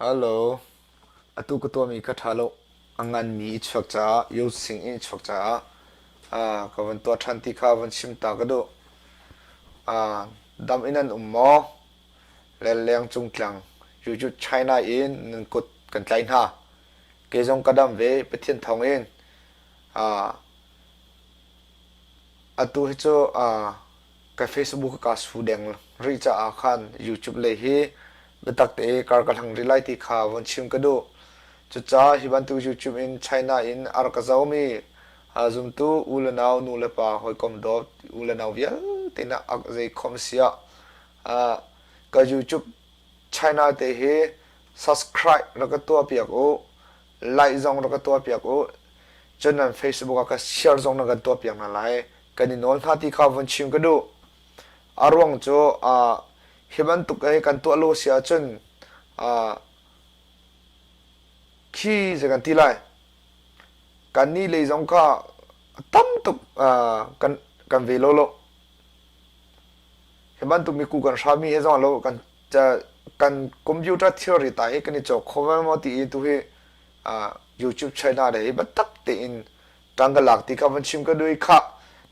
Atu ka tuahmi ka ṭha lo. A nganmi i chuak caah, youthsing in i chuak caah ka van tuah ṭhan ti kha van chim ta ka duh. Dam in an um maw? Le leng cung tlang Yuju China in nan kut kan tlaih hna. Kei zong ka dam ve Pathian thawngin. Atu hi cu Ka Facebook kaa su deng rih caah khan YouTube lei hi biatak tein kar ka hlang rih lai ti kha vun chim ka duh. Cucaah hi bantuk YouTube in China in a rak ka zomi zumtu u le nau, nu le pa, hawikom dawt, u le nau vialte nih zei khom si ah ka YouTube China te hi subscribe rak ka tuah piak u, like zong rak ka tuah piak u, cun nan Facebook ah ka share zong na kan tuah piak hna lai. kan i nawl hna ti kha vun chim ka duh. A ruang cu uh, hi bantuk ei kan tuah lo si ahcun uh, khi zei kan ti lai kannih lei zong kha tam tuk uh, kan kan ve lo lo hi bantuk mi ku kan hrami e zong lo kan kan computer theory ta i kan i chok khoman mo ti i tu hi uh, YouTube china le i batak tein Tang ka lak ti kha van chim ka duh i khah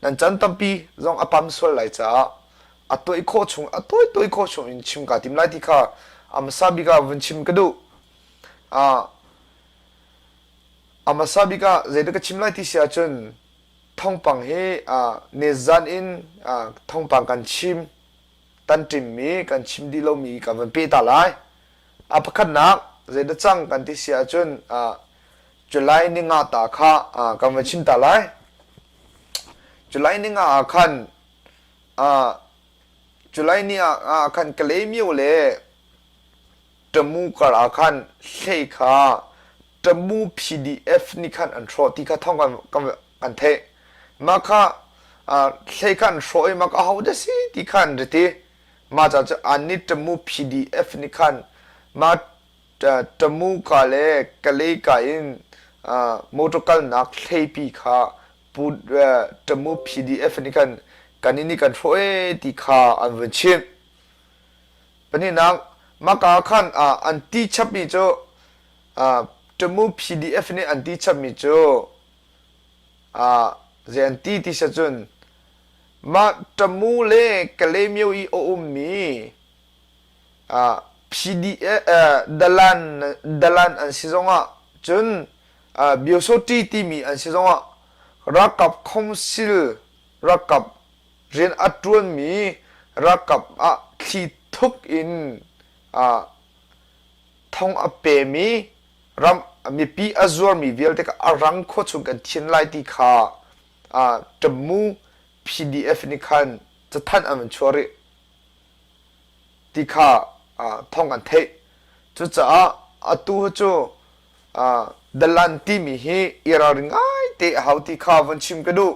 nan can tampi zong a pam sual lai caah a toih khawh chung a toih toih khawh chung in chim kaa tim lai ti kha a hmasa bik ah vun chim ka duh a a hmasa bik ah zeidah ka chim lai ti si ahcun thongpang hi a nezan in a thongpang kan chim kan ṭimmi, kan chim dih lomi kan van peh ta lai. A pakhatnak, zei na cang kan ti si ahcun July ni nga ta kha kan van chim ta lai. July ni nga ah khan July ni ah khan Kalay Myo le ṭamu kar ah khan hlei kha ṭamu PDF nih khan an hrawh ti kha thawng kan, kan, kan theih. Mah kha hlei kha an hrawh i mah kha ahodah si ti kha an rit i mah ca cu an nih ṭamu PDF nih khan mah ṭamu ka le kalei ka in motor kalnak hleipi kha pu ṭamu PDF nih khan kan in nih kan hrawh ee ti kha an vun chimh. Pahnihnak, maka khan ah an ti chapmi cu Tamu PDF nih an ti chapmi cu zei an ti ti siah cun mah Tamu le Kalemyo i a ummi Dalan an si zongah cun Byosawhti timi an si zongah ralkap khawngsil ralkap rian a ṭuanmi ralkap ah thli thuk in thong a pemi ram mipi a zuarmi vialte kha a rang khua chung kan thian lai ti kha Ṭammu PDF nih khan cathanh an van chuah rih ti kha thawng an theih cucaah atu cu Dalan timi hi i ralring ngai te a hau ti kha van chim ka duh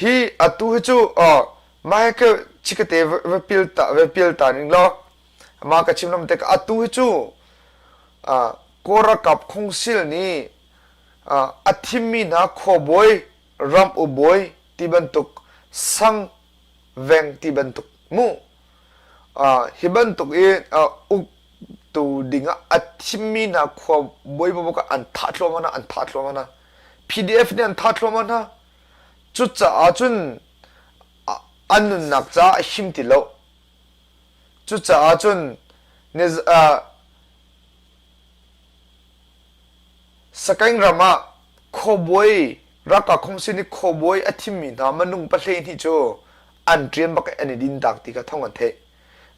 Hi atu hi cu Michael Chikete va pial ta ning law amah ka chim lam te atu hi cu Kawl ralkap khungsil nih a thimmi hna khuabawi ramuk bawi ti bantuk sang veng ti bantuk hmuh hi bantuk i uktu ding ah a thimmi hna khuabawi bubuk an thah thluahmah na an thah thluahmah na PDF nih an tha thluahmah hna cucaah cun an nunnak caah him ti lo cucaah cun sakaing ram ah khuabuai raka khongsin i khuabuai a thimmi hna manung pahlei hnih cu an ṭian bak an i din tak ti kha thong an theih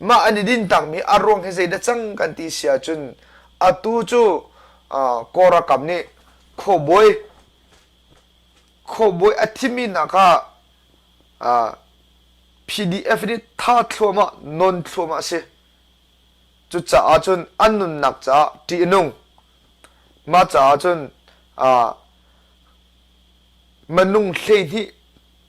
mah an i dintakmi a ruang hi zeidah cang kan ti si ahcun atu cu kawrakam nih khuabawi khuabawi a thimi nak ah PDF nih tha thluamah non thluamah si cucaah cun an nunnak caah ṭih nung mah caah cun manung hleihnih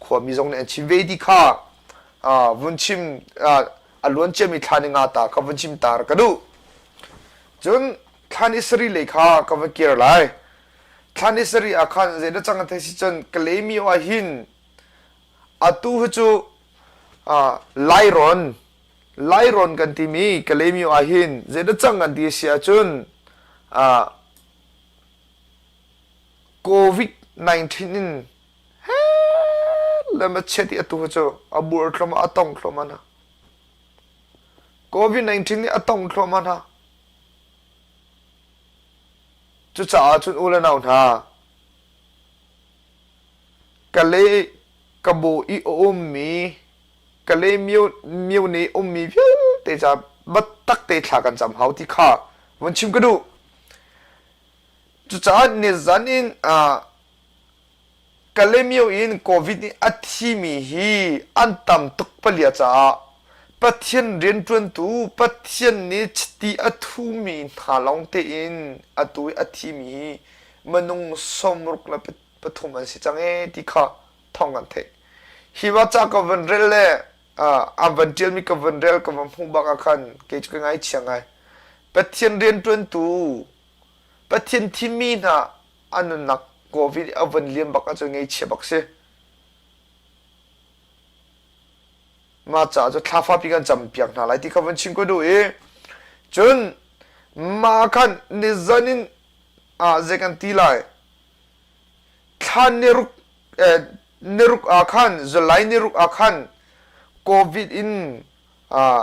Khuami zong nih an chim ve ti kha vun chim a luan ciami thlan i nga ta ka vun chim tar ka duh cun thlan i sari lei kha ka vun kir lai thlan i sari ah khan zei na cang thei si cun kalemi ah hin atu hi cu lairon lairon kan timi kalemi ah hin zei na cang an ti si ahcun covid-19 in lem a chiat i atu cu a bur thlom a tong thlom hna covid-19 nih a tong thlom hna cucaah cun u le nau hna ka le ka bo i a ummi ka le mio mio ne ummi vialte ca battak te thla kan cam hau ti kha von chim ka duh cucaah ne zan in Kalemyo in Covid nih a thimi hi an tam tuk palia caah Pathian rianṭuantu Pathian nih chiti a thumi hna lawng tein atu i a thimi hi minung sawmruk le pathum an si cang ee ti kha thawng kan theih. Hi va ca ka van rel le a van ṭialmi ka van rel ka van hmuh bak ah khan kei cu ka ngaichia ngai. Pathian rianṭuantu Pathian thimi hna a nunnak covid a von liam bak ahcun ngeichia bak si mah caah cu thlafa pi kan cam piak hna lai ti kha von chim ko duh i cun mah khan ni zan in ah zei kan ti lai thlan ni ruk eh, ni ruk ah khan zulai ni ruk ah khan covid in ah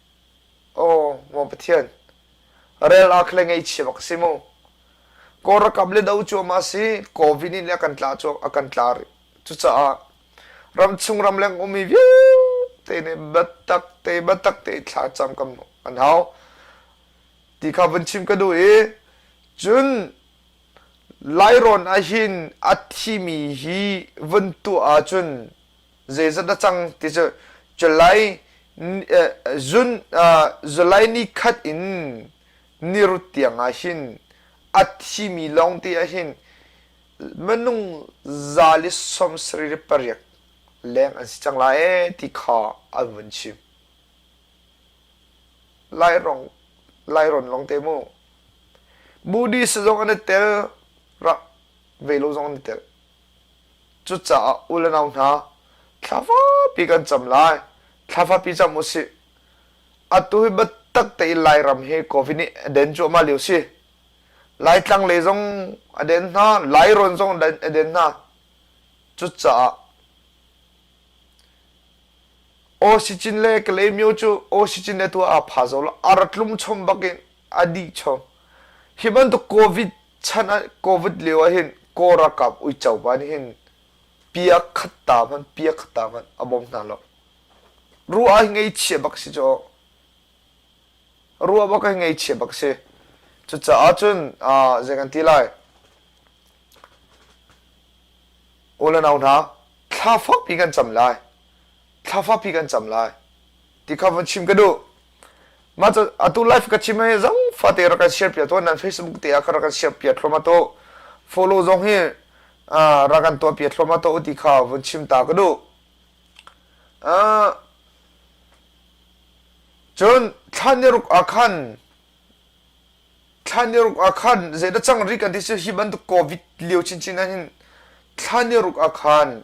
Aw Maw Pathian, rel ah kha le ngeichia bak si mu. Kaw rakam le do cu ma si Covid nih le a kan tla cu a kan tla rih. Cucaah ram chung ram leng ummi vialte nih batak te batak te thla cam kam an hau. Ti kha vun chim ka duh i cun Lairon ahhin a thimi hi vun tuah ahcun zeizat na cang ti cu July zun July ni khat in nirut tiang ah hin a thimi lawng te ah hin minung zali som sarih pariat leng an si cang lai ti kha an vun chim lairong lairon long te mu buddhist zong an i tel ra velo zong an i tel Cucaah u le nau hna, thlavapi kan cam lai. Thlavapi cam u sih. Atu hi biatak tein Lairam hi Covid nih a den cuahmah lio si. Laitlang le zong a den hna, Lairawn zong a den hna. Cucaah Osicin le Kalaymyo cu Osicin le tuah aa phazo lo. Ar tlum chom bakin a dih chom. Hi bantuk Covid chan ah covid lio ah hin kaw ralkap uico pa nih hin pia khat ta hmanh pia khat ta hmanh a bawm hna lo ru ah ngei chia bak si cu ruah bak ngei chia bak si cucaah cun zei kan ti lai u le nau hna thla fakpi kan cam lai thla fapi kan cam lai ti kha van chim ka duh mah cu atu live ka chim hi zang fate ra kan share pia to nan facebook te ah ka ra kan share pia thloma to follow zong hi ra kan to pia thloma to ti kha van chim ta ka duh cun thlan ni ruk akhan thlan ni ruk akhan zeta chang ri kan ti hi bantuk covid liu chin chin hin thlan ni ruk akhan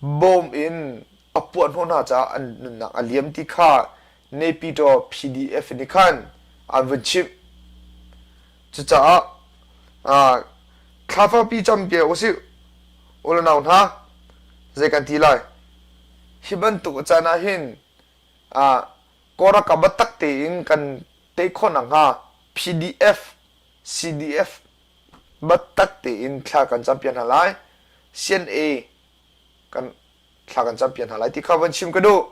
bawm in a puah hnawh hna caah an nunnak a liam ti kha Nepito PDF nih khan an vun chimh. Cucaah thlafapi cam piak usih, ulanau hna, zei kan ti lai. Hi bantuk a caan ah hin Koraka batak tein kan tei khawh nakhnga PDF, CDF Matak tein thla kan cam piak hna lai. CNA kan thla kan cam piak hna lai ti kha van chim ka duh.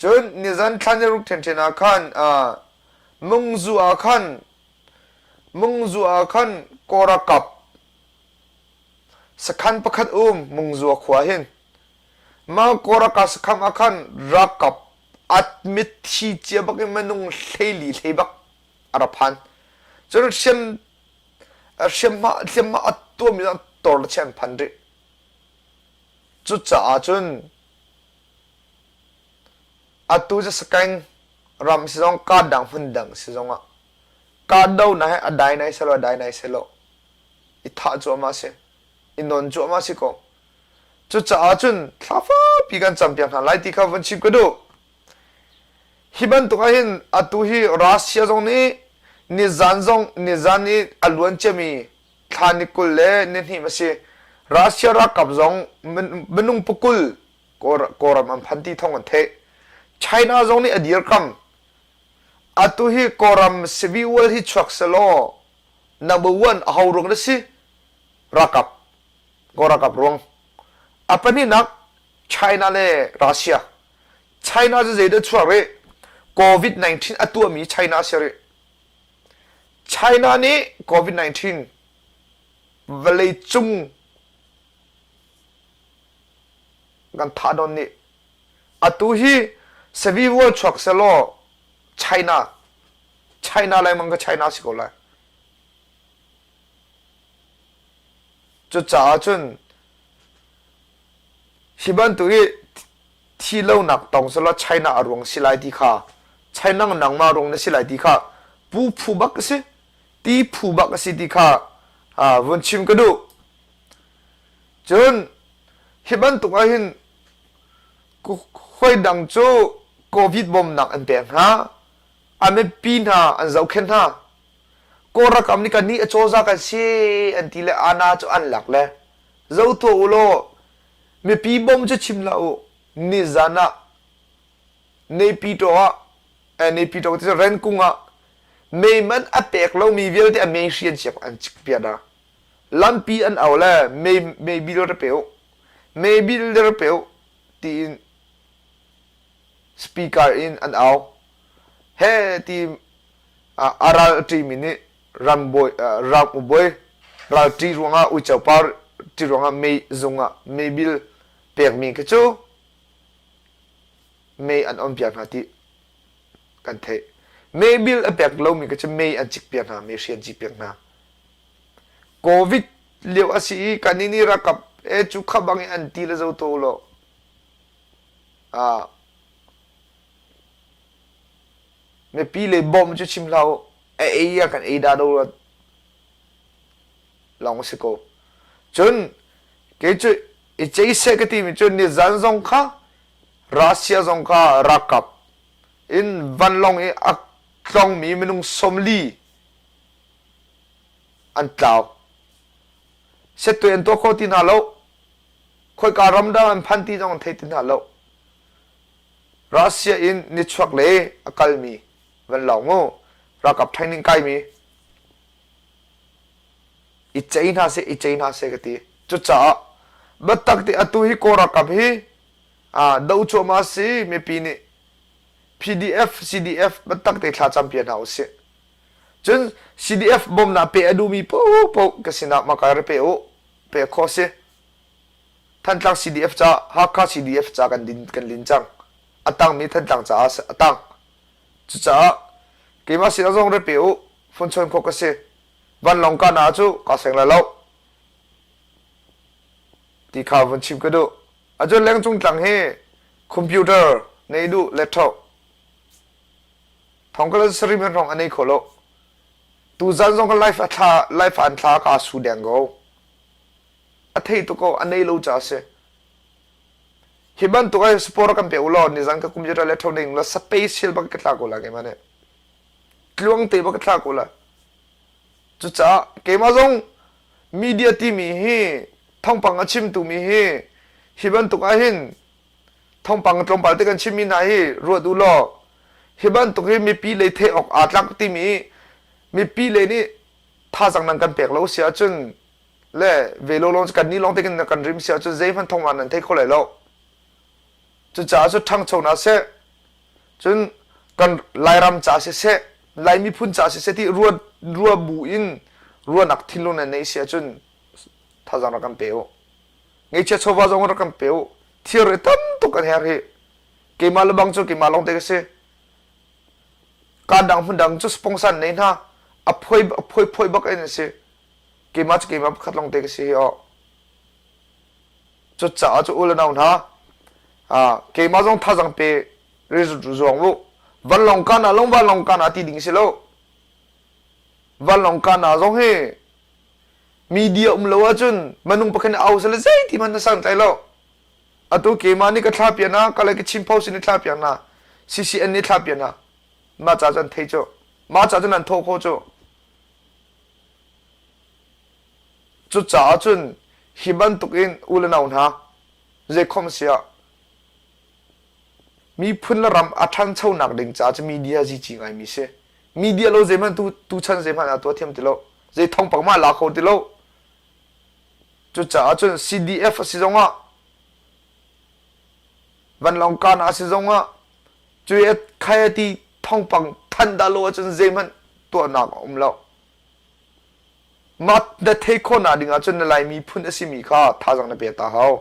Cun nizan thlan ruk ṭhenṭhen ah khan mungzu ah khan mungzu ah khan kora kap sakhan pakhat um mungzua khua hin mah kora ka sakham ah khan rakap at mitthi cia bak in manung hlei li hlei bak a ra phan cun hriam hriamhma hliamhma a tuam in a tor le chiah an phan rih cucaah cun atu cu sakaing ram si zong kahdoh hmun dang si zong ah kahdoh na he a dai nai selo a dai nai selo i thah cu ama si i non cu ama si ko cucaah cun thlafa pi kan cam piak hna lai ti kha von chim ka duh Hi bantuk ahhin atu hi Russia zong nih nizan zong nizan i a luan ciami thla ni kul le ni hnih a si. Russia ralkap zong minung pukul kawlram an phan ti thawng an theih. China zong nih a dirkam atu hi kawlram civil hi chuak selaw number one a ruang na si ralkap kaw ralkap ruang a pahnih nak China le Russia China cu zeidah a chuak rih? Covid-19 a tuahmi China a si rih. China nih Covid-19 vawleicung kan thah nawn nih atu hi sevi vual chuak selaw China China lengmang kha China si ko lai Cucaah cun hi bantuk i thi lonak tong selaw China a ruang si lai ti kha China nangmah ruang na si lai ti kha pu phu bak a si ti phu bak a si ti kha vun chim ka duh cun hi bantuk ahhin hoi dang cu covid bawmnak an pek hna a mipi hna an zohkhenh hna Kawl ralkap nih kan nih a cawza kan si an ti le Ana cu an lak le zo tuah u law mipi bom cu chim la u nizan ah Naypyitaw ah eh, Naypyitaw ti Renkung ah meiman a pek lomi vialte a mei hri an siak an cik piat a lampi an au le mei mei bil re pe u mei bil re pe u tiin speaker in an au he ti a ral ṭimi nih ralkapbawi ral ṭi ruangah uico par ṭi ruangah mei zung ah meibil pekmi khi cu mei an on piak hna ti kan theih meibil a pek lomi khi cu mei an cik piak hna meihri an cik piak hna covid lio a si i kannih nih rakap e cu khabang i an ti le zo to lo a mipi le bawm cu chim hlah u a ei ah kan ei da do lawng a si ko cun kei cu i cei seh ka timi cun ni zan zong kha Russia zong kha rakap in vanlong i a tlongmi minung somli an tlau setwe an to kho ti hna lo khoika ram dah an phan ti zong an thei ti hna lo Russia in nichuak le a kalmi van lawng mu ralkap training kaimi i cei hna seh i cei hna seh ka ti cucaah biatak ti atu hi kaw ralkap hi ah do cuahma si mipi nih PDF CDF biatak te thla cam pia hna usih cun CDF bawmnak pe a duhmi popo ka sinah makal repe u pe kho si Thantlang CDF ca Hakha CDF ca kan, din, kan lin cang. A tangmi Thantlang caah a tang. Cucaah keimah sinah zong rat pe u. Funchawn khawh ka si. Vanlawng kahnak cu ka seng la lo. Ti kha vun chim ka duh. Acun lengcung tlang hi computer nei duh laptop thong kala sarim in rong anei kho lo tu zan zong ka life a thla life an thla ka su deng go a thei tuk a nei lo ca si hi bantuk ai sport kan pe u law ni zan ka computer le thau ding la special bak ka thla ko la ke mane tluang te bak ka thla ko la cu ca keima zong media timi hi thongpang a chim tu mi hi hi bantuk ah hin thongpang tlawmpal te kan chim mi na hi ruat u law hi bantuk hi mipi le the ok a tlak timi mipi le nih thazang nang kan pek lo si ahcun le ve lo long kan ni long te kan rim sia chu zeihman thong an nan thei kho lai lo cucaah cu ṭhangcho na se cun kan lairam ca se se lai miphun ca se se ti rua rua bu in rua nak thin lo na nei sia cun thazang ra kan pe o ngai chia chova zong ra kan pe o thir re tam tuk an her hi keima lebang chu keima long te ka se kan dang hun dang chu sponsor nei na a phoi a phoi phoi bak en se keimah cu keimah pakhat lawngte ka si oh. cu caah cu ule nau hna keimah zong thazang pe zuang lu vanlong kana long vanlong kana ti ding si lo vanlong kana zong hi media um lo ahcun manung pakhat nih au sale zei ti man na sang tlai lo atu keimah nih ka thla pia na ka lai ka chim pau sin ni thla pia na ccn ni thla pia na ma cha cun thei cu ma cha cun an tho kho cu Cucaah cun hi bantukin u le nau hna, zeikhom a si ah, miphun le ram a ṭhanchonak ding caah cu media zici ngaimi si. Media lo zeihmanh tu, tuchan zeihmanh ah tuah thiam ti lo. Zei thongpak mah la kho ti lo. Cucaah cun CDF a si zongah, vanlawng kan a si zongah, Cu khai a ti thongpang than dah lo ahcun zeihmanh tuahnak a um lo. Mah na thei khawhnak ding ahcun na Lai miphun a simi kha thazang na pek ta hau.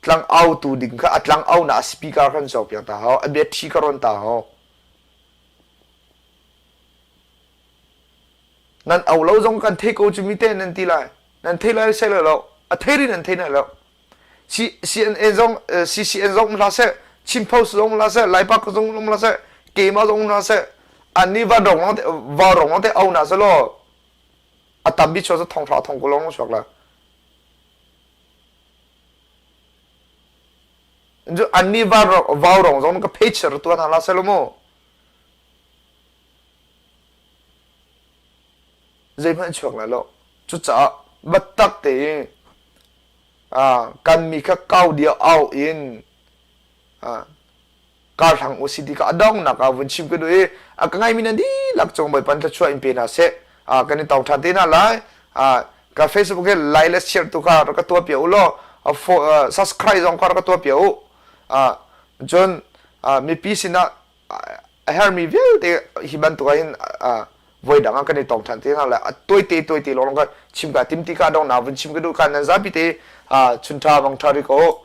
Tlang autu ding kha a tlang aunak a speaker khan so piak ta hau. A battery ka ron ta hau. Nan au lo zong kan thei ko cu mi te nan ti lai. Nan thei lai sai lo lo. A thei ri nan thei na lo. CNN zong CCN zong hlah seh Chin Post zong hlah seh Lai Park zong hlah seh keima zong hlah seh anni va rong te va rong te au na selo atambi cho sa thong thla thong ko long shok la ju anni va va rong zong ka page ru tuan hala selo mo zeihman chuak la lo chu cha battak te kanmi kha kau dia au in kaa hlang u si ti kha a donghnak ah vun chim ka duh i a ka ngaimi na dihlak cung bawipan thlachua in pe hna seh kan i tong ṭhan te hna lai ka facebook he like le share tu kha rak ka tuah pia u law subscribe zong kha rak ka tuah pia u cun mipi sinah a hermi vialte hi bantuk in voi dang ah kan i tong than te nga le a toi te toi te lawng kan chim ka tim ti ka dong na vun chim ka du kan nan zapi te chun tha wang tha ri ko